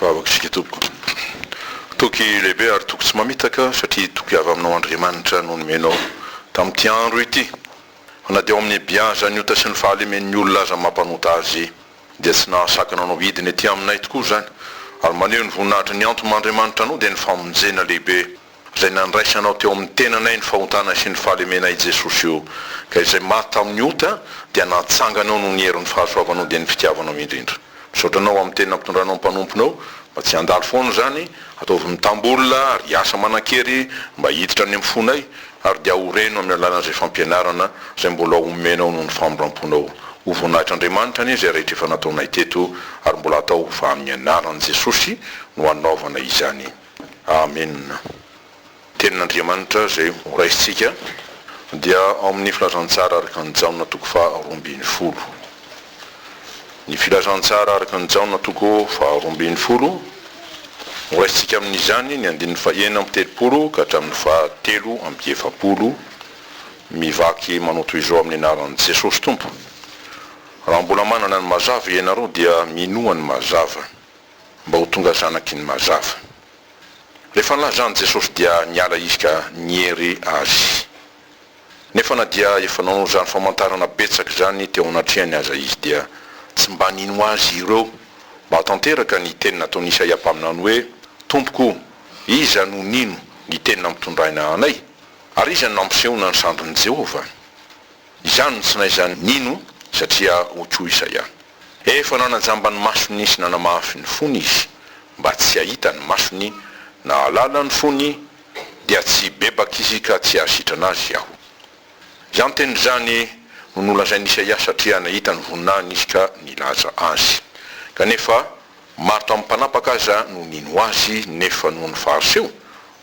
Vavaka isika tompoko. Toky lehibe ary toky tsy mamitaka satria toky avy aminao Andriamanitra no nomenao tamin'ity andro ity fa na dia ao amin'ny biazan'ny ota sy ny fahalemen'ny olona aza mampanota azy dia tsy nahasakana anao hidina ety aminay tokoa izany ary maneho ny voninahitry ny antom-Andriamanitranao dia ny famonjena lehibe izay nandraisanao teo amin'ny tenanay ny fahontanay sy ny fahalemenay i Jesosy o, ka izay maty tamin'ny ota dia natsanganao noho ny herin'ny fahasoavanao dia ny fitiavanao indrindra. Misaotra anao amin'ny teny nampitondranao ny mpanomponao, mba tsy handalo foana izany, ataovy mitambola ary hiasa manan-kery mba hiditra any amin'ny fonay, ary dia ho reno amin'ny alalan'izay fampianarana izay mbola homenao noho ny famindramponao. Ho voninahitr'Andriamanitra anie izay rehetra efa nataonay teto ary mbola atao fa amin'ny anaran'i Jesosy no anaovana izany. Amena. Tenin'Andriamanitra izay ho raisintsika dia ao amin'ny Filazantsara araka an'i Jaona toko faha roa ambin'ny folo. Ny Filazantsara araka an'i Jaona toko faha roa ambin'ny folo, ho raisintsika amin'izany ny andininy fahenina amby telopolo ka hatramin'ny faha telo amby efapolo, mivaky manao toy izao amin'ny anaran'i Jesosy Tompo, Raha mbola manana ny mazava ianareo dia minoa ny mazava. mba ho tonga zanaky ny mazava. Ilay fanilazan'i Jesosy dia niala izy ka niery Azy. Nefa na dia efa nanao izany famantarana betsaka izany teo anatrehany aza izy dia tsy mba nino Azy ireo. Mahatanteraka ny teny nataon'i Isaia mpaminany hoe, Tompoko o, iza no nino ny teny nampitondraina anay? Ary iza no nampisehoana ny sandrin'i Jehovah? Izany no tsy naizany nino satria hoy koa Isaia. Efa nanajamba ny masony sy nanamafy ny fony izy mba tsy hahita ny masony, nahalala ny fony, dia tsy hibebaka izy ka tsy hahasitrana azy aho. Izany teny izany no nolazain'i Isaia satria nahita ny voninahiny izy ka nilaza azy. Kanefa, maro tamin'ny mpanapaka aza no nino azy, nefa noho ny Fariseo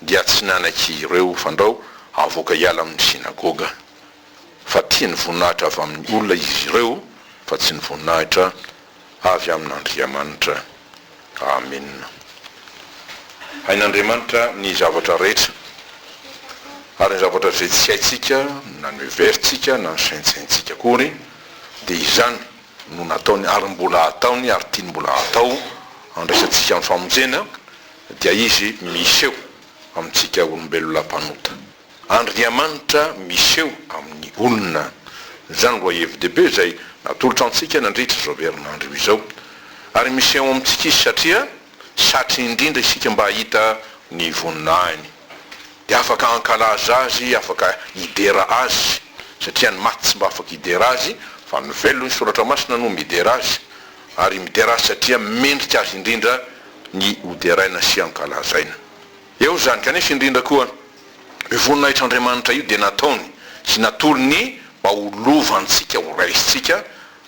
dia tsy nanaiky ireo fandrao havoaka hiala amin'ny sinagoga. fa tia ny voninahitra avy amin'ny olona izy ireo fa tsy ny voninahitra avy amin'Andriamanitra. Amena. Hain'Andriamanitra ny zavatra rehetra, ary ny zavatra izay tsy haintsika na ny heverintsika na ny saintsaintsika akory dia izany no nataony ary mbola hataony ary tiany mbola hatao handraisantsika amin'ny famonjena dia izy miseho amintsika olombelona mpanota. Andriamanitra miseho amin'ny olona. Izany lohahevi-dehibe izay natolotra antsika nandritra izao herinandro io izao. Ary miseho amintsika Izy satria satry indrindra isika mba hahita ny voninahiny. Dia afaka hankalaza Azy, afaka hidera Azy, satria ny maty tsy mba afaka hidera Azy, fa ny velona, hoy ny Soratra Masina, no midera Azy. Ary midera Azy satria mendrika Azy indrindra ny hoderaina sy hankalazaina. Eo izany, kanefa indrindra koa, io voninahitr'Andriamanitra io dia nataony sy natolony mba ho lova antsika, ho raisintsika,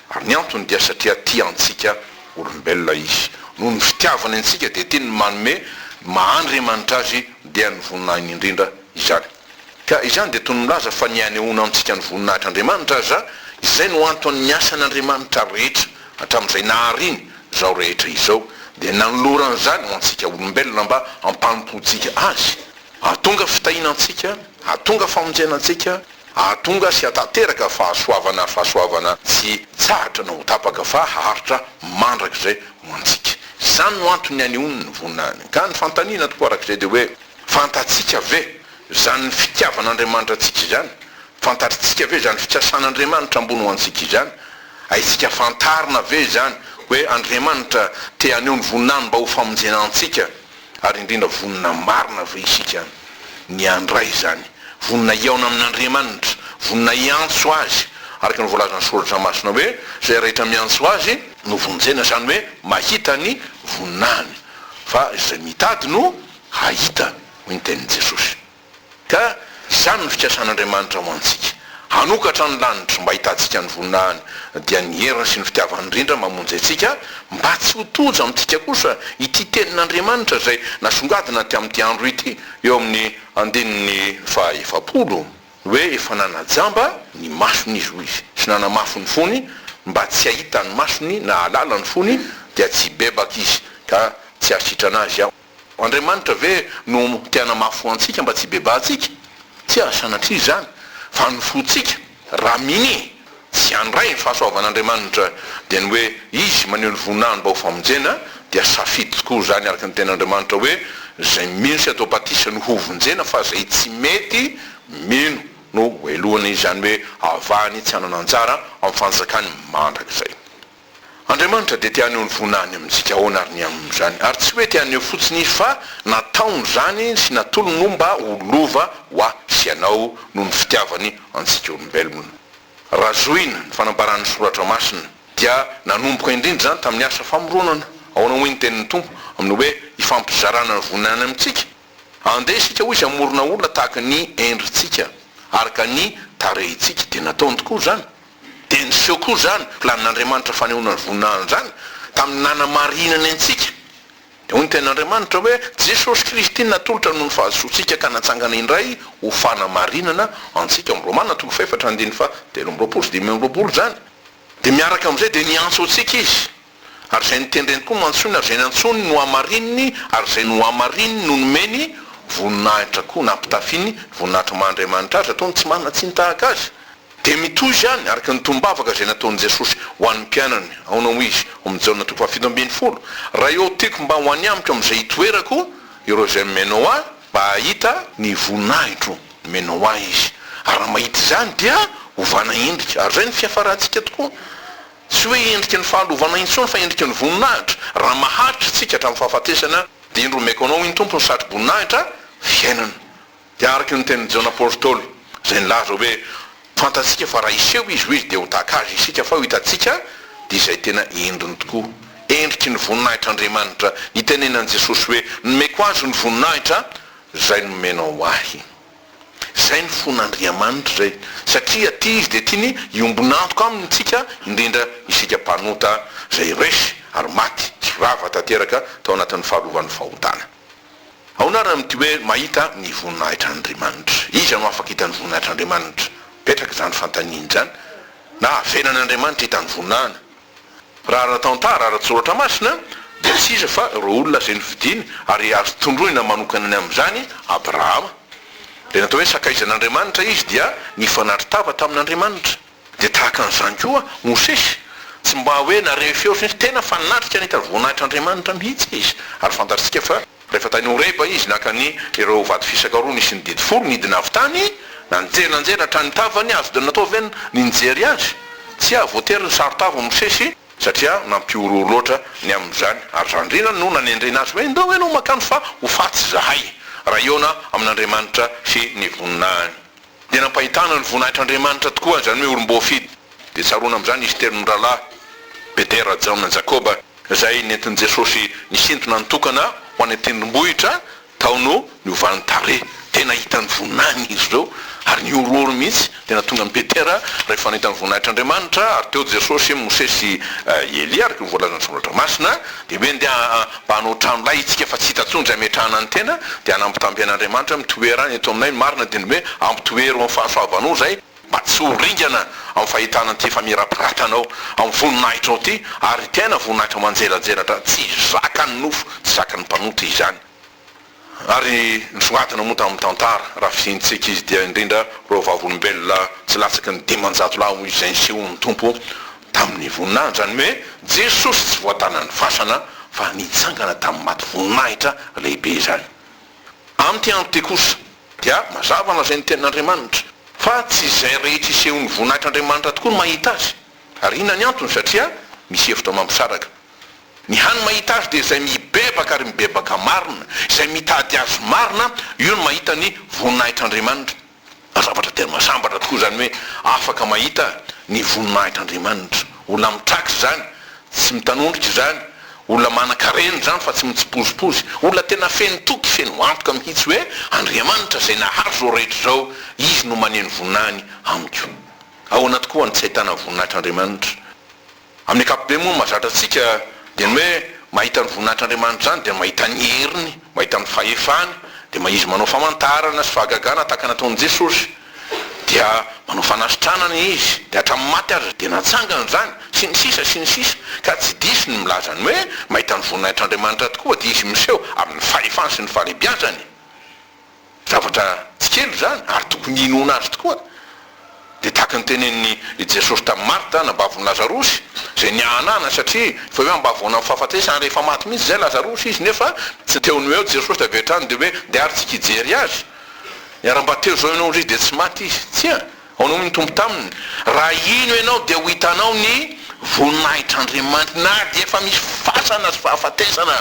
ary ny antony dia satria tia antsika olombelona Izy. Noho ny fitiavany antsika dia tiany ny manome ny maha Andriamanitra Azy dia ny voninahiny indrindra izany. Ka izany dia toy ny milaza fa ny hanehoana amintsika ny voninahitr'Andriamanitra aza, izay no anton'ny asan'Andriamanitra rehetra hatramin'izay nahariany izao rehetra izao, dia nanolorany izany ho antsika olombelona mba hampanompoantsika Azy, hahatonga fitahiana antsika, hahatonga famonjena antsika, hahatonga sy hahatanteraka fahasoavana, fahasoavana tsy tsahatra na ho tapaka fa haharitra mandrakizay ho antsika. Izany no anton'ny hanehoany ny voninahiny. Ka ny fanontaniana tokoa arak'izay dia hoe. Fantatsika ve izany fitiavan'Andriamanitra antsika izany? Fantatritsika ve izany fikasan'Andriamanitra ambony ho antsika izany? Haintsika fantarina ve izany hoe Andriamanitra te haneho ny voninahiny mba ho famonjena antsika? Ary indrindra, vonona marina ve isika ny handray izany? Vonona hihaona amin'Andriamanitra? Vonona hiantso Azy araka ny voalazan'ny Soratra Masina hoe, Izay rehetra miantso Azy no vonjena, izany hoe mahita ny voninahiny, fa izay mitady no. Hahita, hoy ny tenin'i Jesosy. Ka izany no fikasan'Andriamanitra ho antsika, hanokatra ny lanitra mba ahitantsika ny voninahiny, dia ny heriny sy ny fitiavany indrindra mamonjy antsika, mba tsy ho tojo amintsika kosa ity tenin'Andriamanitra izay nasongadina aty amin'ity andro ity eo amin'ny andininy faha efapolo, hoe efa nanajamba ny masony izy, hoy izy, sy nanamafy ny fony, mba tsy hahita ny masony na hahalala ny fony, dia tsy hibebaka izy, ka tsy hahasitrana azy aho. Andriamanitra ve no te hanamafy ho antsika mba tsy hibebahantsika? Tsia, sanatria izany, fa ny fontsika, raha minia tsy handray ny fahasoavan'Andriamanitra, dia ny hoe Izy maneho ny voninahiny mba ho famonjena, dia safidy tokoa izany araka ny Tenin'Andriamanitra hoe, Izay mino sy atao batisa no hovonjena fa izay tsy mety mino no helohina, izany hoe avahany tsy hanana anjara amin'ny fanjakany mandrakizay. Andriamanitra dia te haneho ny voninahiny amintsika ahoana ary ny amin' izany? Ary tsy hoe te haneho fotsiny Izy fa nataony izany sy natolony ho mba ho lova ho ahy sy ianao noho ny fitiavany antsika olombelona. Raha zohina ny fanambaran'ny Soratra Masina dia nanomboka indrindra izany tamin'ny asa famoronana. Ahoana hoy ny tenin'ny Tompo amin'ny hoe hifampizarana ny voninahiny amintsika? Andeha isika hoy izy hamorona olona tahaka ny endritsika araka ny tarehintsika. Dia nataony tokoa izany. Dia niseho koa izany planin'Andriamanitra fanehoana ny voninahiny izany tamin'ny nanamarinany antsika. Dia hoy ny Tenin'Andriamanitra hoe, Jesosy Kristy natolotra noho ny fahadisoantsika ka natsangana indray ho fanamarinana antsika, ao Romana toko fahefatra andininy faha telo amby roapolo sy dimy amby roapolo izany. Dia miaraka amin'izay dia niantso antsika Izy. Ary izay notendreny koa no antsoiny, ary izay nantsoiny no hamarininy, ary izay nohamarininy no nomeny voninahitra koa, na ampitafiany voninahitry ny maha Andriamanitra azy, ataony tsy manana tsiny tahaka azy. Dia mitohy izany, araka ny tombavaka izay nataon'i Jesosy ho an'ny mpianany, aona hoy Izy, ao amin'ny Jaona toko fahafito ambin'ny folo, Raha eo tiako mba ho any amiko amin'izay hitoerako, ireo izay mimeno Ahy, mba hahita, ny voninahitro, mimeno Ahy izy, ary raha mahita izany dia hovana endrika, ary izay no fiafarantsika tokoa. Tsy hoe endriky ny fahalovana intsony fa endriky ny voninahitra, raha maharitra isika hatramin'ny fahafatesana dia indro omeko anao iny Tompo ny satro-boninahitra fiainana. Dia araka ny tenin'i Jaona Apostoly izay nilaza hoe fantatsika fa raha hiseho izy ho izy dia ho tahaka azy isika fa ho hitantsika dia izay tena endriny tokoa, endriky ny voninahitr'Andriamanitra nitenenan'i Jesosy hoe nomeko azy ny voninahitra izay nomenao ahy. Izay ny fon'Andriamanitra izay, satria aty Izy dia tiany hiombon'antoka Aminy isika, indrindra isika mpanota izay resy ary maty sy rava tanteraka tao anatin'ny fahalovan'ny fahotana. Ahoana ary amin'ity hoe mahita ny voninahitr'Andriamanitra? Iza no afaka hita ny voninahitr'Andriamanitra? Mipetraka izany fanontaniana izany na avelan'Andriamanitra hita ny voninahiny? Raha ara-tantara, ara-tsoratra masina, dia tsy iza fa ireo olona izay nofidiny ary azo tondroina manokana ny amin'izany, Abrahama. Ilay natao hoe sakaizan'Andriamanitra izy dia nifanatri tava tamin'Andriamanitra. Dia tahaka an'izany koa Mosesy, tsy mba hoe nareho feo fotsiny izy, tena fanatrika nitady voninahitr'Andriamanitra mihitsy izy, ary fantatsika fa Rehefa tany Horeba izy, naka ny ireo vato fisaka roa nisy ny didy folo, nidina avy tany, nanjery nanjery hatrany ny tavany, azo dia natao ve ny nijery azy? Tsia, voatery ny saron-tava Mosesy, satria nampihorohoro loatra ny amin'izany, ary zandriny no nanendrena azy hoe, Indao ve no makany fa ho faty izahay, raha hihaona amin'Andriamanitra sy ny voninahiny. Dia nampahitana ny voninahitr'Andriamanitra tokoa azy izany hoe olom-boafidy. Dia tsaroana amin'izany izy telo mirahalahy, Petera, Jaona, Jakoba, izay nentin'i Jesosy nisintona ny tokana ho any an-tendrombohitra tao no niovany tarehy. Tena hita ny voninahiny izy ireo ary nihorohoro mihitsy. Dia nahatonga an'i Petera rehefa nahita ny voninahitr'Andriamanitra ary teo Jesosy, Mosesy sy Elia araka ny voalazan'ny Soratra Masina. Dia hoe ndeha mba hanao trano lay itsika fa tsy hita intsony izay ametrahana ny tena dia hanambitamby an'Andriamanitra hoe mitoera any eto aminay ny marina dia ny hoe ampitoero amin'ny fahasoavanao izay mba tsy ho ringana amin'ny fahitana an'ity famirapiratanao amin'ny voninahitrao ity ary tena voninahitra manjelanjelatra tsy zakan'ny nofo tsy zakan'ny mpanota izany. Ary nisongadina moa tamin'ny tantara, raha fidiantsika izy, dia indrindra ireo vavolombelona tsy latsaky ny dimanjato lahy hoy izay nisehoan'ny Tompo tamin'ny voninahiny, izany hoe Jesosy tsy voatanan'ny fasana fa nitsangana tamin'ny maty voninahitra lehibe izany. Amin'ity andro ity kosa dia mazava lazain'ny Tenin'Andriamanitra fa tsy izay rehetra isehoan'ny voninahitr'Andriamanitra tokoa no mahita azy, ary inona ny antony? Satria misy hevitra mampisaraka Ny hany mahita azy dia izay mibebaka ary mibebaka marina, izay mitady azy marina, io no mahita ny voninahitr'Andriamanitra. Zavatra tena mahasambatra tokoa izany hoe afaka mahita ny voninahitr'Andriamanitra. Olona mitraka izany, tsy mitanondrika izany, olona manan-karena izany fa tsy mitsipozipozy, olona tena feno toky, feno antoka mihitsy hoe Andriamanitra izay nahazo izao rehetra izao, Izy no maneho ny voninahiny amiko. Ahoana tokoa no tsy ahitana voninahitr'Andriamanitra? Amin'ny ankapobeny moa ny mahazatra antsika dia ny hoe mahita ny voninahitr'Andriamanitra izany dia mahita ny heriny, mahita ny fahefany, dia ma izy manao famantarana sy fahagagana tahaka ny nataon'i Jesosy dia manao fanasitranana izy dia hatramin'ny maty aza dia natsangany izany sy ny sisa sy ny sisa ka tsy diso ny milaza ny hoe mahita ny voninahitr'Andriamanitra tokoa dia izy miseho amin'ny fahefany sy ny fahalebiazany Zavatra tsy kely izany ary tokony hinoana azy tokoa. Dia tahaka ny tenenin'i Jesosy tamin'i Marta, anabavon'i Lazarosy, izay niahanahana satria efa eo am-bavoanan'ny fahafatesany ary efa maty mihitsy izay Lazarosy izy nefa tsy teo no eo Jesosy dia avy hatrany dia hoe ndeha ary tsika hijery azy. Niharam-bato teo izao ianao indrisy dia tsy maty izy. Tsia, ahoana hoy ny Tompo taminy? Raha hino ianao dia ho hitanao ny voninahitr'Andriamanitra na dia efa misy fasana sy fahafatesana.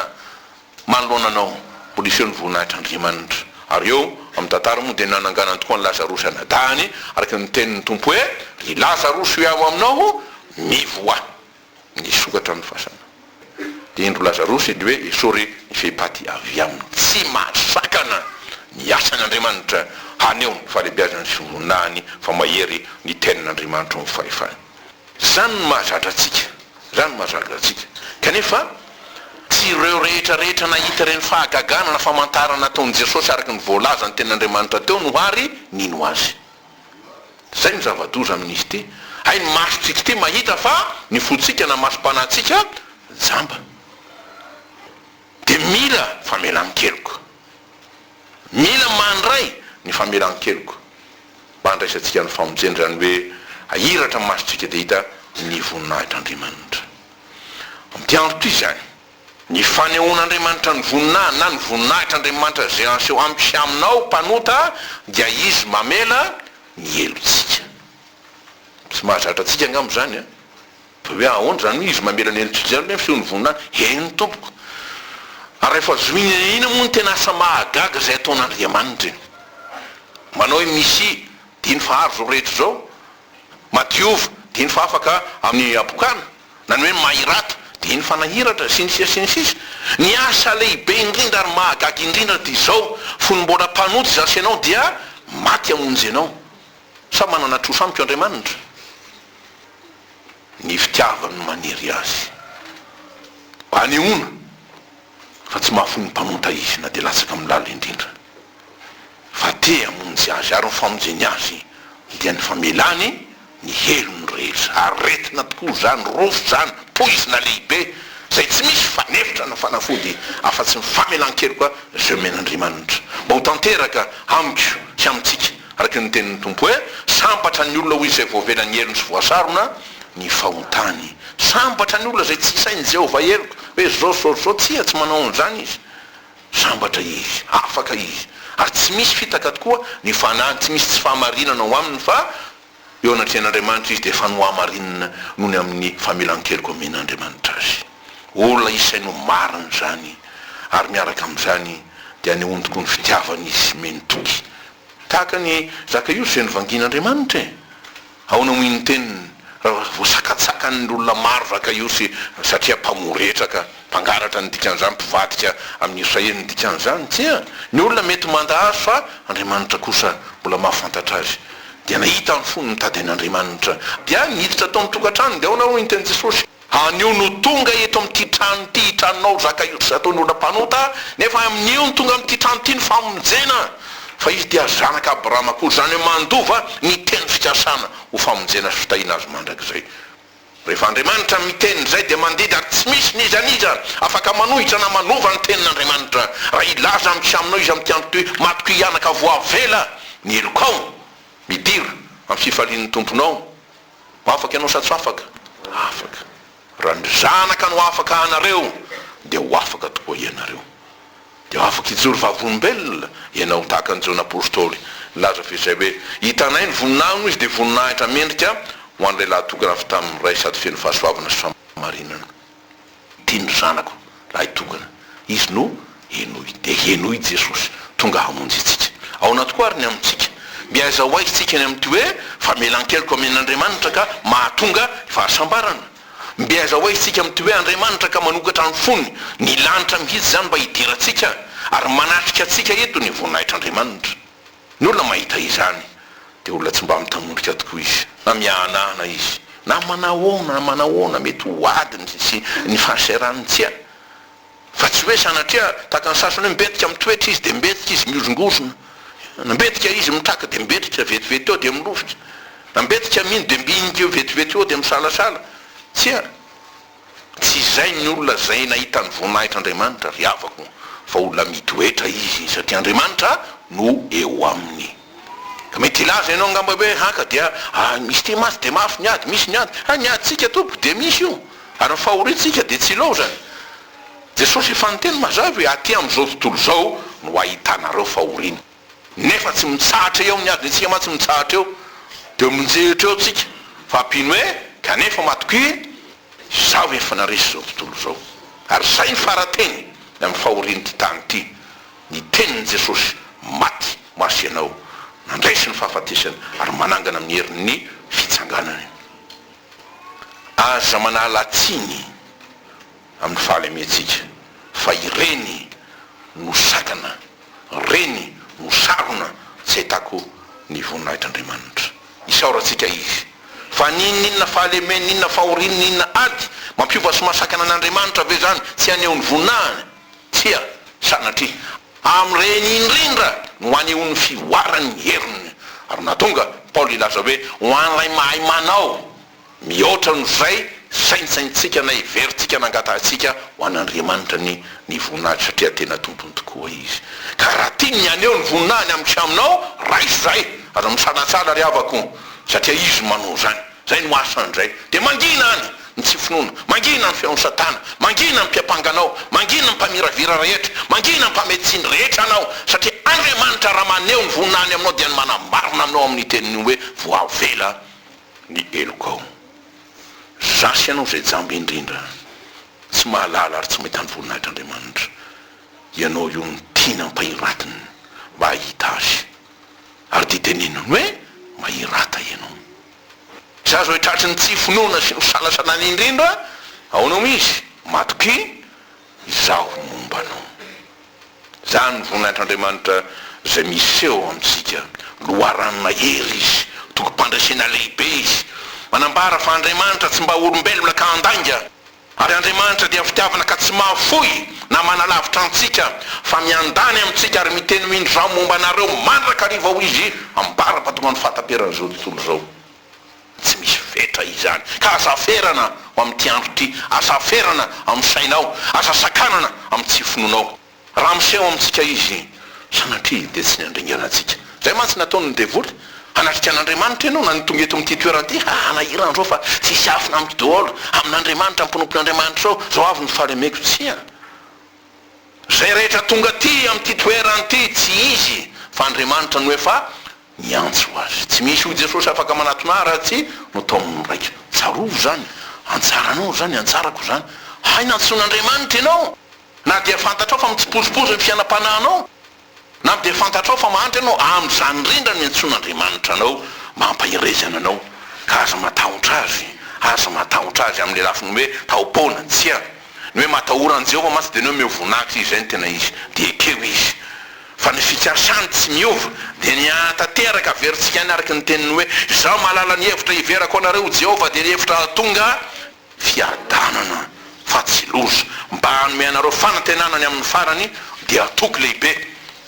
Manoloana anao, ho lefeo ny voninahitr'Andriamanitra. Ary eo amin'ny tantara moa dia nananganany tokoa an'i Lazarosy anadahiny, araka ny nitenin'ny Tompo hoe, Ry Lazarosy hoiaho aminao, mivoaha! Nisokatra ny fasana. Dia indro Lazarosy indry hoe, Esory ny fehipaty avy aminy. Tsy mahasakana ny asan'Andriamanitra haneho ny fahalehibiazany sy ny voninahiny fa mahery ny tenin'Andriamanitra ao amin'ny fahefany. Izany no mahazatra antsika. Izany no mahazatra antsika. Kanefa, tsy ireo rehetra rehetra nahita ireny fahagagana na famantarana ataon'i Jesosy araka ny voalazan'ny Tenin'Andriamanitra teo no àry nino Azy. Izay no zava-doza amin'izy ity, hay ny masontsika ity mahita fa ny fontsika na masom-panahintsika jamba. Dia mila famelan-keloka. Mila mandray ny famelan-keloka mba handraisantsika ny famonjena, izany hoe hahiratra ny masontsika dia hita ny voninahitr'Andriamanitra. Amin'ity andro ity izany, ny fanehoan'Andriamanitra ny voninahiny na ny voninahitr'Andriamanitra izay aseho amiko sy aminao mpanota dia Izy mamela ny helotsika. Tsy mahazatra antsika angamba izany an! Hoe ahoana izany hoe izy mamela ny an'i Judea aloha ny feon'ny voninahiny? Eny tompoko. Ary rehefa zohina eny eny moa ny tena asa mahagaga izay ataon'Andriamanitra e. Manao hoe Misia, dia iny fa ary izao rehetra izao. Madiova, dia iny fa afaka amin'ny habokana. Na ny hoe mahirata, dia iny fa nahiratra, sy ny sisa sy ny sisa. Ny asa lehibe indrindra ary mahagaga indrindra dia izao, fony mbola mpanota izaho sy ianao dia maty hamonjy anao. Sa manana trosa amiko Andriamanitra? ny fitiavany no manery azy hanehoana fa tsy mahafoy ny mpanota izy na dia latsaka milala indrindra, fa te hamonjy azy, ary ny famonjeny azy dia ny famelany ny helony rehetra. Aretina tokoa izany, rofy izany, poizina lehibe izay tsy misy fanefitra na fanafody afa-tsy ny famelan-keloka izay omen'Andriamanitra mba ho tanteraka amiko sy amintsika. Araka ny tenin'ny Tompo hoe, Sambatra ny olona hoy izay voavela ny helony sy voasarona ny fahotany. Sambatra ny olona izay tsy sain'i Jehovah heloka, hoe izao sy izao sy izao. Tsia, tsy manao an'izany izy. Sambatra izy, afaka izy, ary tsy misy fitaka tokoa ny fanahiny, tsy misy tsy fahamarinana ao aminy, fa Eo anatrehan'Andriamanitra izy dia efa nohamarinina noho ny amin'ny famelan-keloka omen'Andriamanitra azy. Olona isainy ho marina izany, ary miaraka amin'izany dia anehoany koa ny fitiavany izy miheno-toky. Tahaka an'i Zakaiosy izay novangian'Andriamanitra e! Ahoana moa iny teniny raha voasakatsakan'ny olona maro Zakaiosy satria mpamoretraka? Mpangalatra ny dikan'izany, mpivadika amin'ny Israely ny dikan'izany, tsia, ny olona mety manda azy fa Andriamanitra kosa mbola mahafantatra azy, dia nahita ny fony mitady an'Andriamanitra, dia niditra tao amin'ny tokantrano, dia ahoana hoy ny tenin'i Jesosy? Anio no tonga eto amin'ity trano ity hitranonao zaka iotra ataon'ny olona mpanota, nefa amin'io no tonga amin'ity trano ity ny famonjena, fa izy dia zanak' Abrahama koa, izany hoe mandova ny teny fikasana ho famonjena sy fitahiana azy mandrakizay. Rehefa Andriamanitra miteny izay dia mandidy ary tsy misy n'iza n'iza afaka manohitra na manova ny tenin'Andriamanitra. Raha hilaza amiko sy aminao izy amin'ity andro ity hoe, Matiko hihanaka voavela ny helokao, midira amin'ny fifalian'ny Tomponao. Afaka ianao sa tsy afaka? Afaka. Raha ny Zanaka no afaka anareo dia ho afaka tokoa ianareo. Dia afaka hijoro vavolombelona ianao tahaka an'i Jona apostoly. Nilaza avy eo izay hoe, Hitanay ny voninahiny izy, dia voninahitra mendrika ho an'ilay lahitokana avy tamin'ny Ray sady feno fahasoavana sy fahamarinana. Tiany ry zanako lahitokana. Izy no henoy. Dia henoy i Jesosy, tonga hamonjy antsika. Ao anaty koa àry ny amintsika. Mby aiza ho aiza isika ny amin'ity hoe, Famelan-keloka amen'Andriamanitra ka mahatonga ny fahasambarana? Mbe hazahoay isika mity hoe Andriamanitra ka manokatra ny fony, ny lanitra mihitsy izany mba hidirantsika ary manatrika antsika eto ny voninahitr'Andriamanitra. Ny olona mahita izany dia olona tsy mba mitanondrika tokoa izy, na miahanahana izy, na manahoana na manahoana mety ho adiny sy ny fahasahiran'ny tsia. Fa tsy hoe sanatria, tahaka ny sasany hoe mbetika mitoetra izy dia mbetika izy mihozongozona, na mbetika izy mitraka dia mbetika vetivety eo dia milovitra, na mbetika mino dia mbinika eo vetivety eo dia misalasala. Tsia, tsy izay ny olona izay nahita ny voninahitr'Andriamanitra, ry havako, fa olona mitoetra izy satria Andriamanitra no eo aminy. Mety hilaza ianao angamba hoe, Haka dia misy ity mantsy dia mafy ny ady, misy ny ady. Hay ny adintsika tompoko dia misy io, ary ny fahoriantsika dia tsy ilaozany. Jesosy efa niteny mazava hoe, aty amin'izao tontolo izao no ahitanareo fahoriana. Nefa tsy mitsahatra eo ny adiny antsika mantsy mitsahatra eo. Dia minjehitra eo tsika. Fa mpino hoe, kanefa matokia, izaho efa naresy izao tontolo izao. Ary izay ny fara-teny amin'ny fahorian'ity tany ity. ny tenin'i Jesosy, Maty ho azy ianao, nandresy ny fahafatesana, ary manangana amin'ny herin'ny fitsanganany. Aza manala tsiny amin'ny fahalementsika fa ireny no sakana, ireny no sarona tsy ahitako ny voninahitr'Andriamanitra. Isaorantsika Izy fa n'inon'inona fahalemeny, n'inona fahoriana, n'inona ady mampiova sy mahasakana an'Andriamanitra ve izany tsy haneho ny voninahiny? Tsia, sanatria. Amin'ireny indrindra no anehoan'ny fivoarany ny heriny. Ary nahatonga an'i Paoly hilaza hoe, Ho an'ilay mahay manao mihoatra noho izay saintsaintsika na heverintsika na angatahantsika ho an'Andriamanitra ny ny voninahitra, satria tena tompony tokoa izy. Ka raha tiany ny haneho ny voninahiny amiko sy aminao, raiso izahay. Aza misalatsala, ry havako, satria izy no manao izany. Izay no asany indray. Dia mangina any ny tsy finoana, mangina ny feon'i Satana, mangina ny mpiampanga anao, mangina ny mpamiravira rehetra, mangina ny mpamehy tsiny rehetra anao, satria Andriamanitra raha maneho ny voninahiny aminao dia ny manamarina aminao amin'ny teniny hoe voavela ny helokao. Zasy ianao izay jamba indrindra, tsy mahalala ary tsy mahita ny voninahitr'Andriamanitra. Ianao io no tiany ampahiratiny mba hahita azy. ary dia teneniny hoe, Mahirata ianao. Tsy azo haitratry ny tsy finoana sy nosalasana any indrindra ao no misy, Matokia izaho momba anao. Izany ny voninahitran'Andriamanitra izay miseho amintsika. Loharano mahery Izy, tobim-pandresena lehibe Izy. Manambara fa Andriamanitra tsy mba olombelona ka handainga. Ary Andriamanitra dia fitiavana ka tsy mahafoy na manalavitra antsika, fa miandany amintsika ary miteny hoe indrà momba anareo mandrakariva hoy izy, ambara mahatonga ny fahataperan' izao tontolo izao. Tsy misy fetra izany. Ka aza aferana ho amin'ity andro ity, aza aferana amin'ny sainao, aza sakanana amin'ny tsy finoanao. Raha miseho amintsika izy, sanatria dia tsy ny handringana antsika. Izay mantsy no ataon'ny devoly, hanatrika an'Andriamanitra ianao na ny tonga eto amin'ity toerana ity, ha hanahirana an'izao fa tsy hisy afona amiko daholo, amin'Andriamanitra, amin'ny mpanompon'Andriamanitra izao, izao avy no fahalemeko. Tsia. Izay rehetra tonga aty amin'ity toerana ity, tsy izy fa Andriamanitra no efa niantso azy. Tsy misy hoy Jesosy afaka manatona ahy raha tsy notaomin'ny ny Raiko. Tsarovy izany, antsaranao izany, antsarako izany. Hay nantsoin'Andriamanitra ianao! Na dia fantatrao fa mitsipozipozy ny fiainam-panahinao, na dia fantatrao fa mandry ianao, amin'izany indrindra no iantsoan'Andriamanitra anao mba hampaherezana anao. Ka aza matahotra Azy. Aza matahotra Azy, amin'ny lafiny hoe taom-poana. Tsia. Ny hoe matahora an'i Jehovah mantsy dia ny hoe omeo voninahitra Izy, izay no tena izy. Dia ekeo izy. Fa ny fikasany tsy miova, dia ny hahatateraka averintsika any araka ny teniny hoe, Izaho mahalala ny hevitra hiverako ho anareo, hoy Jehovah, dia ny hevitra hahatonga, Fiadanana fa tsy loza. Mba hanome anareo fanantenana ny amin'ny farany dia hatoky lehibe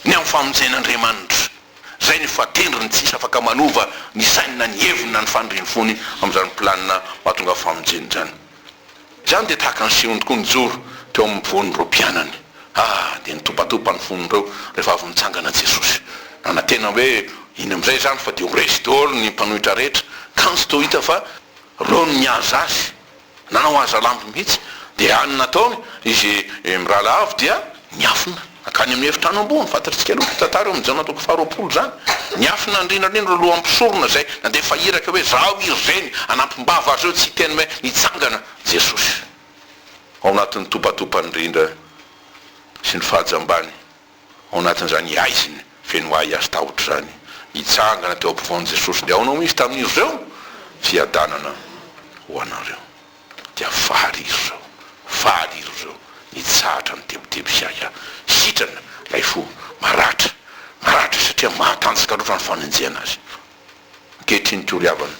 ny amin'ny famonjen'Andriamanitra. Izay no fahatendriny tsy hisy afaka manova ny sainy na ny heviny na ny faniriany fony amin'izany planina mahatonga famonjena izany. Izany dia tahaka ny Simony tokoa nijoro teo amin'ny mpivoan'ireo mpianany. Ah, dia nitopatopa ny fon'ireo rehefa avy nitsangana Jesosy. Nanantena hoe, Iny amin'izay izany fa dia ho resy daholo ny mpanohitra rehetra. Kanjo toa hita fa. Reo no nihaza azy, nanao hazalambo mihitsy, dia any nataony izy mirahalahy avy dia niafina nankany amin'ny efitrano ambony, fantatritsika aloha ny tantara eo amin'ny Jaona toko faharoapolo izany, niafina ny rindra indrindra ireo lohan'ny mpisorona izay nandefa iraka hoe zaho i ry Reny, hanampim-bava azy ireo tsy hiteny hoe nitsangana Jesosy ao anatin'ny topatopan'ny rindra sy ny faha-jambany. ao anatin'izany haizina feno ahiahy sy tahotra izany. Nitsangana teo ampovoan'i Jesosy dia ao no misy tamin'izy ireo fiadanana ho anareo. Dia faly izy ireo, faly iry ireo nitsahatra ny tebiteby sy ahiahy. Sitrana ilay fo maratra, maratra satria mahatanjaka loatra ny fanenjehana azy. Ankehitriny toa ry havana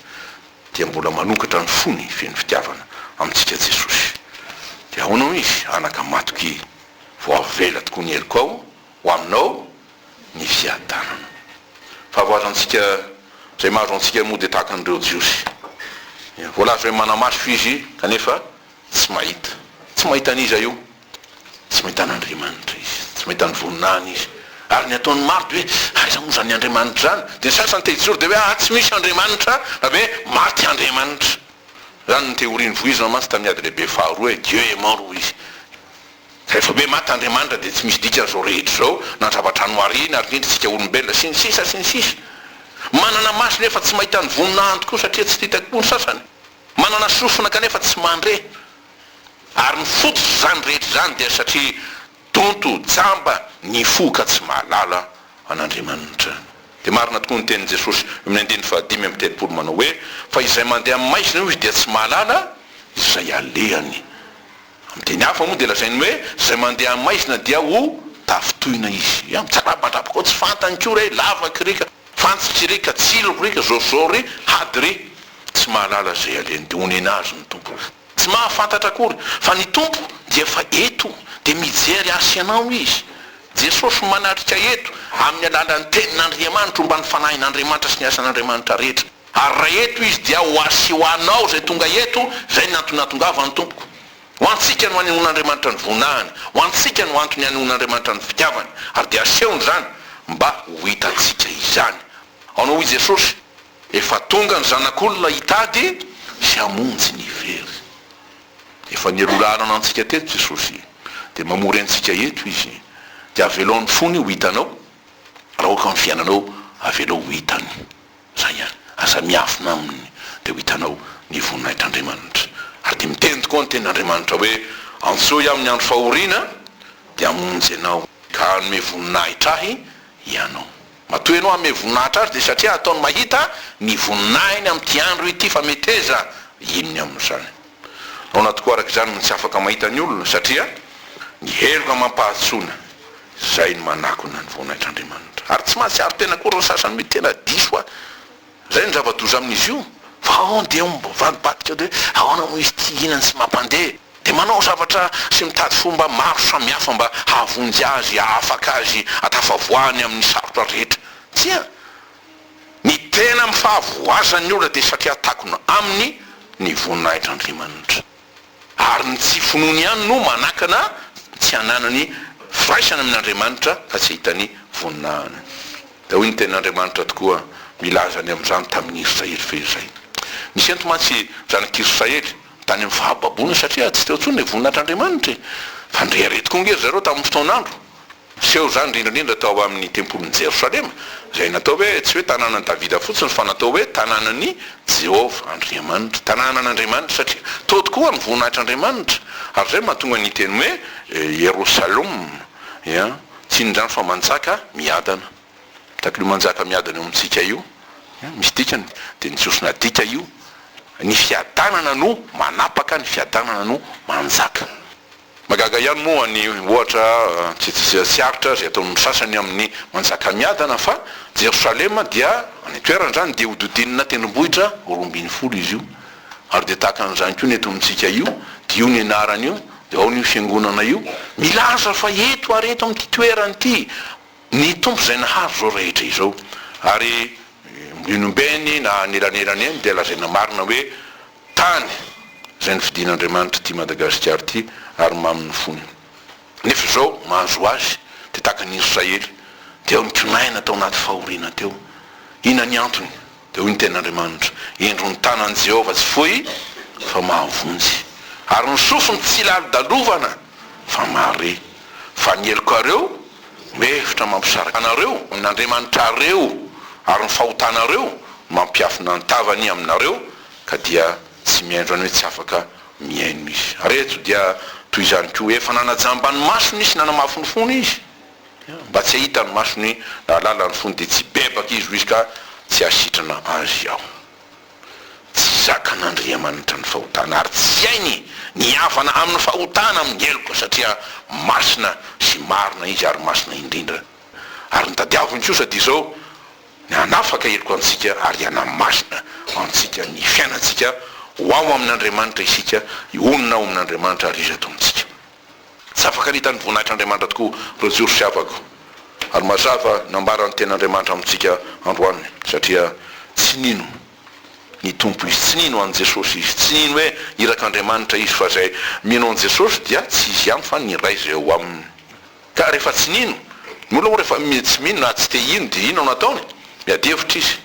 dia mbola manokatra ny fony feno fitiavana amintsika Jesosy. Dia ahoana hoy izy, anaka matoky, vao avela tokoa ny heriko ao ho aminao ny fiadanana. Fahavoazantsika izay mahazo antsika moa dia tahaka an'ireo Jiosy. Voalaza hoe manamaso izy kanefa Tsy mahita. Tsy mahita an'iza io? Tsy mahita an'Andriamanitra izy. Tsy mahita ny voninahiny izy. Ary ny ataon'ny maro dia hoe, aiza moa izany Andriamanitra izany? Dia ny sasany te hijoro dia hoe, aa tsy misy Andriamanitra na hoe maty Andriamanitra. Izany ny teorian'i Voizina mantsy tamin'ny Ady Lehibe Faharoa hoe, Dieu est mort hoy izy. Rehefa hoe maty Andriamanitra dia tsy misy dikany izao rehetra izao, na ny zava-dranomaria na ary indrindra isika olombelona sy ny sisa sy ny sisa. Manana maso nefa tsy mahita ny voninahiny tokoa satria tsy titaky koa ny sasany. Manana sofina kanefa tsy mandre. Ary ny fototrizany rehetra izany dia satria donto, jamba, ny fo ka tsy mahalala an'Andriamanitra. Dia marina tokoa ny tenin'i Jesosy eo amin'ny andininy fahadimy amby telopolo manao hoe, Fa izay mandeha amin'ny maizina hoy izy dia tsy mahalala izay alehany. Amin'ny teny hafa moa dia lazainy hoe izay mandeha amin'ny maizina dia ho tafintohina izy. Ia? Mitsarabadrabaka ao tsy fantany koa re, lavaky re ka, fantsitry re ka, tsiloko re ka, zôrzôro re, hady re. Tsy mahalala izay alehany dia onena azy ny Tompo. Tsy mahafantatra akory fa ny Tompo dia efa eto dia mijery ahy sy ianao Izy. Jesosy manatrika eto amin'ny alalan'ny Tenin'Andriamanitra omban'ny Fanahin'Andriamanitra sy ny asan'Andriamanitra rehetra. Ary raha eto izy, dia ho azy sy ho anao izay tonga eto, izay ny antony nahatongavany, tompoko. Ho antsika no hanehoan'Andriamanitra ny voninahiny, ho antsika no antony hanehoan'Andriamanitra ny fitiavany, ary dia asehony izany, mba ho hitantsika izany. Ao no hoy Jesosy, Efa tonga ny Zanak'olona hitady sy hamonjy ny very. Efa nialoha lalana antsika teto Jesosy, dia mamory antsika eto Izy. Dia avelao ny fony ho hitanao, raha aoka ny fiainanao avelao ho hitany. Izay ary, aza miafina aminy dia ho hitanao ny voninahitr'Andriamanitra. Ary dia miteny tokoa ny tenin'Andriamanitra hoe, Antsoy aho amin'ny andro fahoriana dia hamonjy ianao, ka hanome voninahitra ahy ianao. Matoa ianao hanome voninahitra azy dia satria hataony mahita ny voninahiny amin'ity andro ity, fa meteza inona amin'izany? Ao anaty koa araka izany no tsy afaka mahita ny olona, satria ny heloka mampahatsoana izay no manakona ny voninaitr'Andriamanitra. Ary tsy mahatsiaro tena akory ny sasany hoe tena diso ahy. Izay no zava-doza amin'izy io. Fa ao dia mivadibadika dia hoe ahoana moa izy ity hihinany sy mampandeha. Dia manao zavatra sy mitady fomba maro samihafa mba hahavonjy azy, hahafaka azy, hatafavoahany amin'ny sarotra rehetra. Tsia, Ny tena amin'ny fahavoazan'ny olona dia satria takona aminy ny voninahitr'Andriamanitra. Ary ny tsy finoany ihany no manakana ny tsy hananany firaisana amin'Andriamanitra fa tsy hitany voninahiny. Dia hoy ny tenin'Andriamanitra tokoa milaza ny amin'izany tamin'ny Israely fehizay. Nisento mantsy ny zanak'Israely tany amin'ny fahababoana satria tsy teo intsony ilay voninahitr'Andriamanitra e! Fa ndre re tokoa ange ry zareo tamin'ny fotoan'andro Niseho izany indrindra indrindra tao amin'ny tempolin'i Jerosalema, izay natao hoe tsy hoe tanànan'i Davida fotsiny, fa natao hoe tanànan'i Jehovah Andriamanitra, tanànan'Andriamanitra, satria tao tokoa ny voninahitr'Andriamanitra, ary izay no mahatonga ny teny hoe Ierosalom, ia, tsy inona izany fa manjaka miadana. Tahaka an'io manjaka miadana eo amintsika io, ia, misy dikany, dia ny Jiosy nadika io, ny fiadanana no manapaka, ny fiadanana no manjaka. Mahagaga ihany moa ny ohatra tsy tsy aritra izay ataon'ny sasany amin'ny Manjakamiadana fa Jerosalema dia any an-toerana izany dia hodidinina tendrombohitra roa ambin'ny folo izy io ary dia tahaka an'izany koa ny eto amintsika io dia io ny anarany io dia ao n'io fiangonana io milaza fa eto ary eto amin'ity toerana ity ny Tompo izay nahary izao rehetra izao ary mbola eny ombeny na anelanelan'eny dia lazaina marina hoe Tany, izay nofidin'Andriamanitra ity Madagasikara ity ary mamy ny fony. Nefa izao mahazo azy dia tahaka ny Israely dia ao nikonaina tao anaty fahoriana teo. Inona ny antony? Dia hoy ny Tenin'Andriamanitra, Indro ny tanan'i Jehovah tsy fohy fa mahavonjy, ary ny sofiny tsy lalodalovana fa mahare, fa ny helokareo no hevitra mampisaraka anareo amin'Andriamanitrareo, ary ny fahotanareo no mampiafina ny tavany aminareo, ka dia tsy mihaino izany hoe tsy afaka mihaino izy. Ary eto dia toy izany koa, efa nanajamba ny masony izy sy nanamafy ny fony izy, mba tsy hahita ny masony nahalala ny fony dia tsy hibebaka izy hoy izy ka tsy hahasitrana azy aho. Tsy zakan'Andriamanitra ny fahotana ary tsy hainy ny hihavana amin'ny fahotana amin'ny heloka satria masina sy marina izy ary masina indrindra. Ary ny tadiaviny kosa dia izao, ny hanafaka heloka antsika ary hanamarina antsika ny fiainantsika ho ao amin'Andriamanitra isika, hionona ao amin'Andriamanitra ary izy ataontsika. Tsy afaka nita ny voninahitr'Andriamanitra tokoa ireo Jiosy fiavako ary mazava nambara ny tenin'Andriamanitra amintsika androany satria tsy nino ny Tompo izy, tsy nino an'i Jesosy izy, tsy nino hoe irak'Andriamanitra izy fa izay mino an'i Jesosy dia tsy izy ihany fa ny Ray izay ao aminy. Ka rehefa tsy nino, ny olona moa rehefa tsy mino na tsy te hino dia inona no ataony? Miady hevitra izy.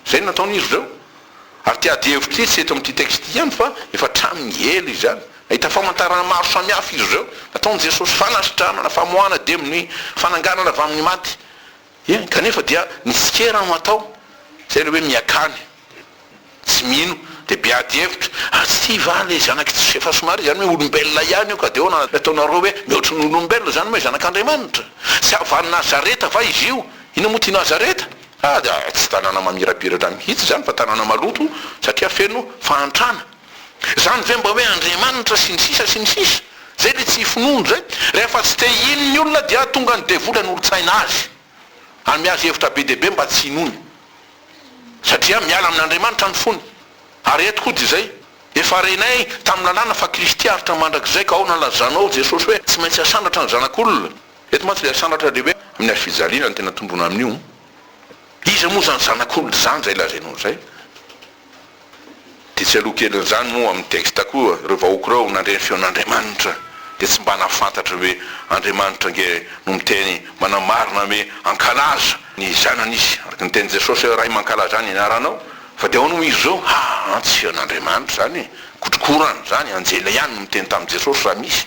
Izay no nataon'izy ireo. Ary ity ady hevitra ity tsy eto amin'ity texte ity ihany fa efa hatramin'ny ela izany. Nahita famantarana maro samihafa izy ireo. Nataon'i Jesosy fanasitranana, famoahana demony, fananganana avy amin'ny maty. Eny, kanefa dia mitsikera no atao, izay ilay hoe miakany, tsy mino, dia be ady hevitra, ary tsy va ilay zanak'i Josefa somary izany hoe olombelona ihany io ka dia ahoana ilay ataonareo hoe mihoatry ny olombelona izany moa zanak'Andriamanitra? Tsy avy any Nazareta va izy io? Inona moa ity Nazareta? Ah, dia tsy tanàna mamirapiratra mihitsy izany fa tanàna maloto satria feno fahantrana. Zany ve mba hoe Andriamanitra sy ny sisa sy ny sisa? Zay le tsy finoana zay. Rehefa tsy te hino ny olona dia tonga ny devoly hanolo-tsaina azy. Hanome azy hevitra be dia be mba tsy hinoany. Satria miala amin'Andriamanitra ny fony. Ary eto koa dia zay. Efa renay tamin'ny lalàna fa Kristy aritra mandrakizay ka aona ny lazanao Jesosy hoe tsy maintsy asandratra ny zanak'olona. Eto mantsy le asandratra le hoe amin'ny hazo fijaliana no tena tondroina amin'io. Iza moa zany zanak'olona zany zay lazainao zay? Dia tsy aloha kelin'izany moa amin'ny texte koa ireo vahoaka ireo nandre ny feon'Andriamanitra dia tsy mba nahafantatra hoe Andriamanitra ange no miteny manamarina hoe ankalaza ny zanan'isy araka ny tenin'i Jesosy hoe Ray mankalaza ny anaranao fa dia ahoana moa izy izao haa tsy feon'Andriamanitra izany e! kotrokorana izany anjely ihany no miteny tamin'i Jesosy raha misy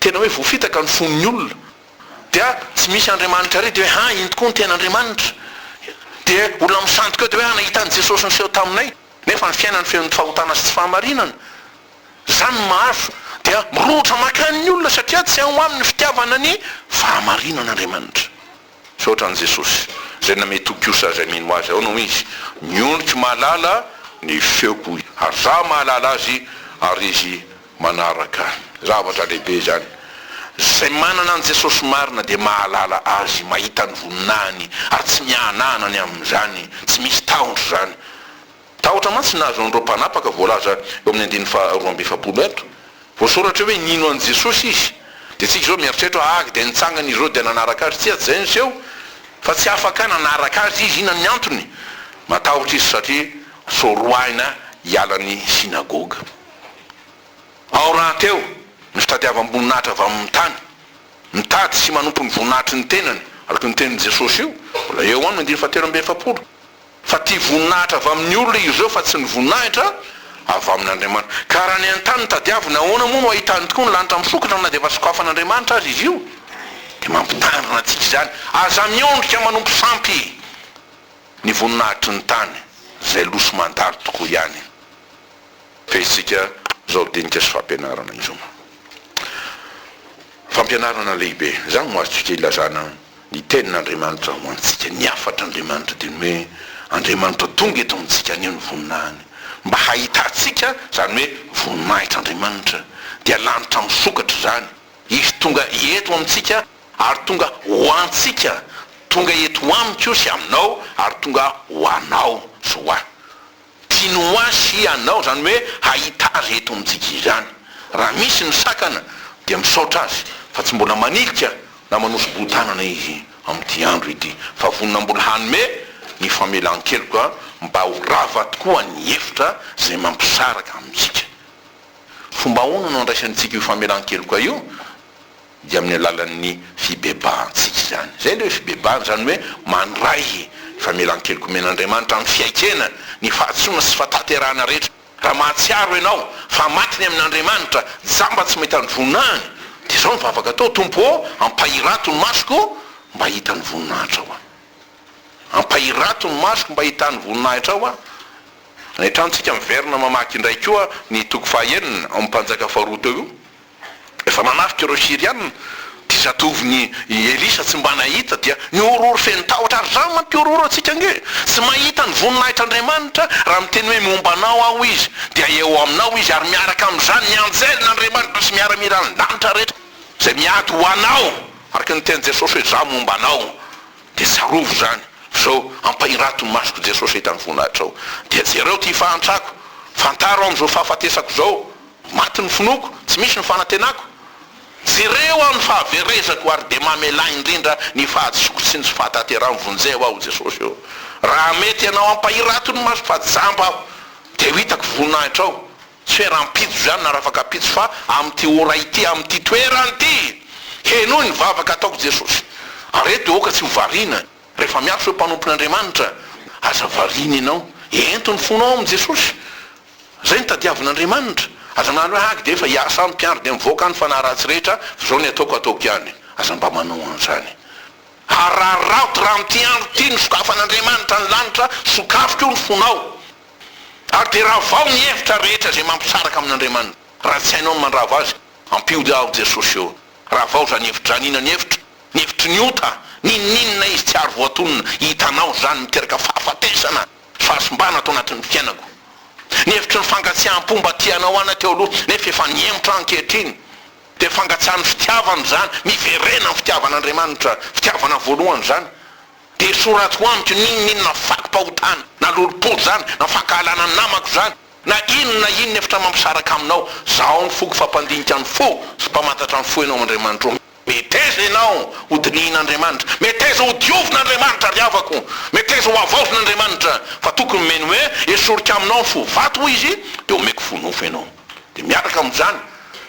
tena hoe voafitaka ny fon'ny olona dia tsy misy Andriamanitra ary dia hoe ha iny tokoa ny tena Andriamanitra dia olona misandoka eo dia hoe ha nahita an'i Jesosy niseho taminay nefa ny fiainany feno ny fahotana sy tsy fahamarinana izany ny mahazo dia mirohotra mankany ny olona satria tsy ao aminy ny fitiavana ny fahamarinana Andriamanitra. Misaotra an'i Jesosy, izay namehy tokosa izay mino Azy ao no izy. Ny ondriko mahalala ny feoko, hoy ary izaho mahalala azy ary izy manaraka ahy. Zavatra lehibe izany. Izay manana an'i Jesosy marina dia mahalala Azy, mahita ny voninahiny ary tsy mihanahana ny amin'izany. Tsy misy tahotra izany. Tahotra mantsy ny nahazo an'ireo mpanapaka voalaza eo amin'ny andininy faha roa amby efapolo eto. Voasoratra hoe nino an'i Jesosy izy. Dia isika izao mieritreritra hoe ahh dia nitsangana izy ireo dia nanaraka azy. Tsia tsy izay no seho fa tsy afaka nanaraka azy izy. Inona ny antony? Matahotra izy satria soroahina hiala ny synagoga. Ao rahateo ny fitadiavam-boninahitra avy amin'ny tany. Mitady sy manompo ny voninahitry ny tenany, araka io nitenin'i Jesosy io, mbola eo amin'ny andininy fahatelo amby efapolo. Fa tia voninahitra avy amin'ny olona izy ireo fa tsy ny voninahitra avy amin'Andriamanitra. Ka raha ny an-tany no tadiavina, ahoana moa no hahitany tokoa ny lanitra misokatra na dia efa sokafan'Andriamanitra aza izy io? Dia mampitandrina antsika izany, aza miondrika manompo sampy ny voninahitry ny tany, izay lo sy mandalo tokoa ihany. Fehintsika izao dinika sy fampianarana izao. Fampianarana lehibe. Izany no azontsika ilazana ny Tenin'Andriamanitra ho antsika. Ny hafatr'Andriamanitra dia ny hoe Andriamanitra tonga eto amintsika haneho ny voninahiny. Mba hahitantsika izany hoe voninahitr'Andriamanitra dia lanitra misokatra izany. Izy tonga eto amintsika ary tonga ho antsika. Tonga eto amiko sy aminao ary tonga ho anao sy ho ahy. Tinoasy ianao izany hoe hahita azy eto amintsika izany. Raha misy ny sakana dia misaotra azy fa tsy mbola manilika na manoso-boho-tanana izy amin'ity andro ity fa vonona mbola hanome ny famelan-keloka mba ho rava tokoa ny hevitra izay mampisaraka amintsika. Fomba ahoana no andraisantsika io famelan-keloka io dia amin'ny alalan'ny fibebahantsika izany. Izay ilay hoe fibebahana, izany hoe mandray famelan-keloka omen'Andriamanitra amin'ny fiaikena ny fahadisoana sy fataterahana rehetra. Raha mahatsiaro ianao fa maty ny amin'Andriamanitra, jamba tsy mahita ny voninahiny, dia izao ny vavaka atao, Tompo ô, ampahirato ny masoko mba hahita ny voninahitrao aho. Ampahirato ny masoko mba hahita ny voninahitrao aho. Any an-tranontsika miverina mamaky indray koa ny toko faha enina ao amin'ny Mpanjaka faharoa teo io. Efa manafika ireo Syriana ity zatovon'i Elisa tsy mba nahita dia mihorohoro feno tahotra ary zany mantsy mihorohoro antsika ange tsy mahita ny voninahitr'Andriamanitra raha miteny hoe momba anao aho izy dia eo aminao izy ary miaraka amin'izany ny anjelin'Andriamanitra sy miaramilan'ny lanitra rehetra izay miady ho anao araka ny tenin'i Jesosy hoe za momba anao dia tsarovy izany zao ampahirato ny masoko Jesosy hahita ny voninahitrao dia jereo ity fahantrako fantaro amin'izao fahafatesako izao Maty ny finoako, tsy misy ny fanantenako, jereo aho ny fahaverezako ary dia mamelà indrindra ny fahadisoako sy ny fahatanterahan'ny vonjeo aho Jesosy ô! Raha mety ianao hampahirato ny masoko fa jamba aho dia ho hitako voninahitrao, tsy hoe rahampitso izany na rafakapitso fa amin'ity ora ity, amin'ity toerana ity! Henoy ny vavaka ataoko Jesosy ary eto dia aoka tsy ho variana rehefa miantso hoe mpanompon'Andriamanitra, aza variana ianao, ento ny fonao amin'i Jesosy Zay no tadiavin'Andriamanitra. Aza milaza hoe hagy dia efa hiasa any mpiandry dia mivoaka any fanahy ratsy rehetra fa zao ny ataoko ataoko ihany. Aza mba manao an'zany. Araraoty raha amin'ity andro ity no sokafan'Andriamanitra ny lanitra, sokafy koa ny fonao. Ary dia ravao ny hevitra rehetra izay mampisaraka amin'Andriamanitra. Raha tsy hainao ny mandrava azy, ampiody aho Jesosy ô. Ravao izany hevidraniana ny hevitra, ny hevitry ny ota, n'inon'inona izy tsy ary voatonona, hitanao izany miteraka fahafatesana. Fahasimbana ato anatin'ny fiainako. Ny hevitry ny fankatsiaham-po mba tia anao ana teo aloha nefa efa nihemotra ankehitriny dia fangatsahan'ny fitiavana izany, miverena ny fitiavan'Andriamanitra, fitiavana voalohany izany, dia esoratiko amiko n'inon'inona fakim-pahotana na lolom-po izany na fankahalana namako izany na inona na inona efitra mampisaraka aminao, zaho ny foko fa mpandinika ny fo sy mpamantatra ny fo ianao Andriamanitro. Meteza ianao ho dinihin'Andriamanitra, meteza ho diovin'Andriamanitra ry havako, meteza ho havaozin'Andriamanitra, fa tokony omeny hoe esoriko aminao ny fo vato hoy izy dia omeko fo nofo ianao. Dia miaraka amin'izany,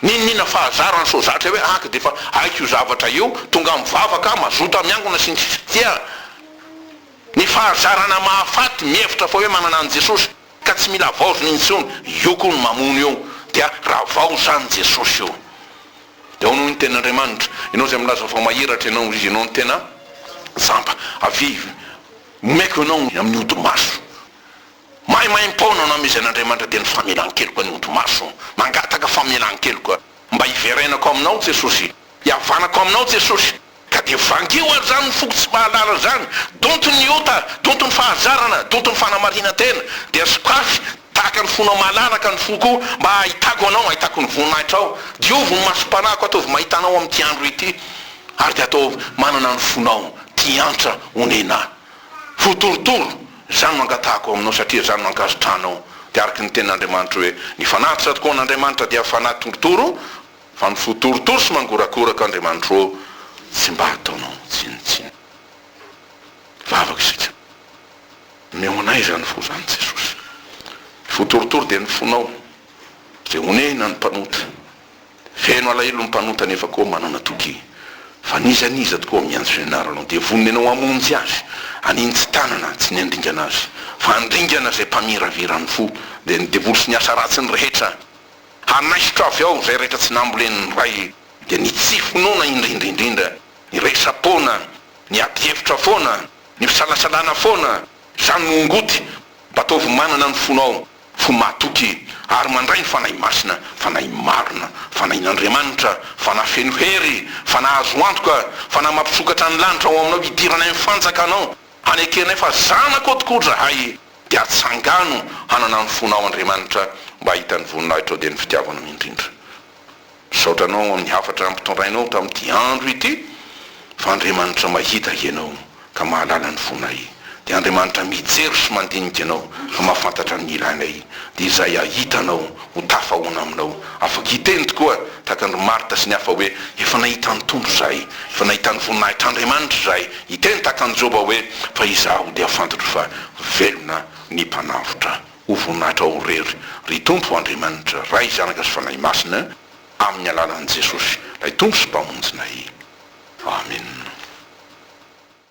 niniana fahazara ny sozatra hoe aky dia efa haiko io zavatra io, tonga mivavaka aho, mazoto miangona sy ny sisa Tia ny fahazarana mahafaty mihevitra fa hoe manana an'i Jesosy ka tsy mila havaozina intsony, io koa no mamono io, dia ravao izany Jesosy io. Ianao no tena Andriamanitra. Ianao izay milaza fa mahiratra Ianao, izy Ianao no tena Jamba. Avia, omeko Anao ny amin'ny odi-maso. Maimaim-poana nohamezen'Andriamanitra dia ny famelan-keloka an'ny odi-maso. Mangataka famelan-keloka. Mba hiverenako Aminao, Jesosy. Hihavanako Aminao, Jesosy. Ka dia vangio ary izany foko tsy mahalala izany, donto ny ota, donto ny fahazarana, donto ny fanamarinan-tena, dia sokafy tahaka ny fonao malalaka ny foko o, mba ahitako anao, ahitako ny voninahitrao, diovy ny masom-panahiko ataovy mahita anao amin'ity andro ity, ary dia ataovy manana ny fonao tia antra onena ho torotoro, izany no angatahako aminao satria izany no ankasitranao, dia araka ny tenin'Andriamanitra hoe, ny fanahy tsy raha tokoa an'Andriamanitra dia fanahy torotoro, Fa mifoha torotoro sy mangorakoraka Andriamanitro ô tsy mba ataonao tsinontsinona vavaka isika Mihaona izany fo izany Jesosy Mifoha torotoro dia ny fonao Izay honehina ny mpanota Feno alahelo ny mpanota Nefa koa manao natokia Fa n'iza n'iza tokoa miantso ny anaranao Dia vonona ianao hamonjy azy An'iny tsy tanana tsy niandringana azy Fa handringana izay mpamiraviran'ny fo Dia ny devoly sy ny asa ratsiny rehetra Hanaisotra avy ao izay rehetra tsy nambolen'ny Ray dia ny tsy finoana indrindra indrindra, ny resa-poana, ny adihevitra foana, ny fisalasalana foana, izany no ongoty, mba ataovy manana ny fonao, fo mahatoky ary mandray ny Fanahy Masina, Fanahy marina, Fanahin'Andriamanitra, Fanahy feno hery, Fanahy azo antoka, Fanahy mampisokatra ny lanitra ao aminao hidirana eny fanjakanao. Hanekenay fa zanakao tokoa zahay dia tsangano hanana ny fonao Andriamanitra mba hahita ny voninahitrao dia ny fitiavanao indrindra. Misaotra anao amin'ny hafatra ampitondrainao tamin'ity andro ity fa Andriamanitra mahita ianao ka mahalala ny fonay dia Andriamanitra mijery sy mandinika anao ka mahafantatra ny ilainay dia izay hahita anao ho tafahoana aminao. Afaka hiteny tokoa tahaka an-dry Marta sy ny hafa hoe, Efa nahita ny Tompo izahay, efa nahita ny voninahitr'Andriamanitra izahay. Hiteny tahaka an'i Joba hoe, Fa izaho dia fantatro fa velona ny Mpanavotra. Ho voninahitrao irery, ry Tompo Andriamanitra, Ray, Zanaka sy Fanahy Masina, amin'ny alalan'i Jesosy, ilay Tompo sy Mpamonjinay. Amena.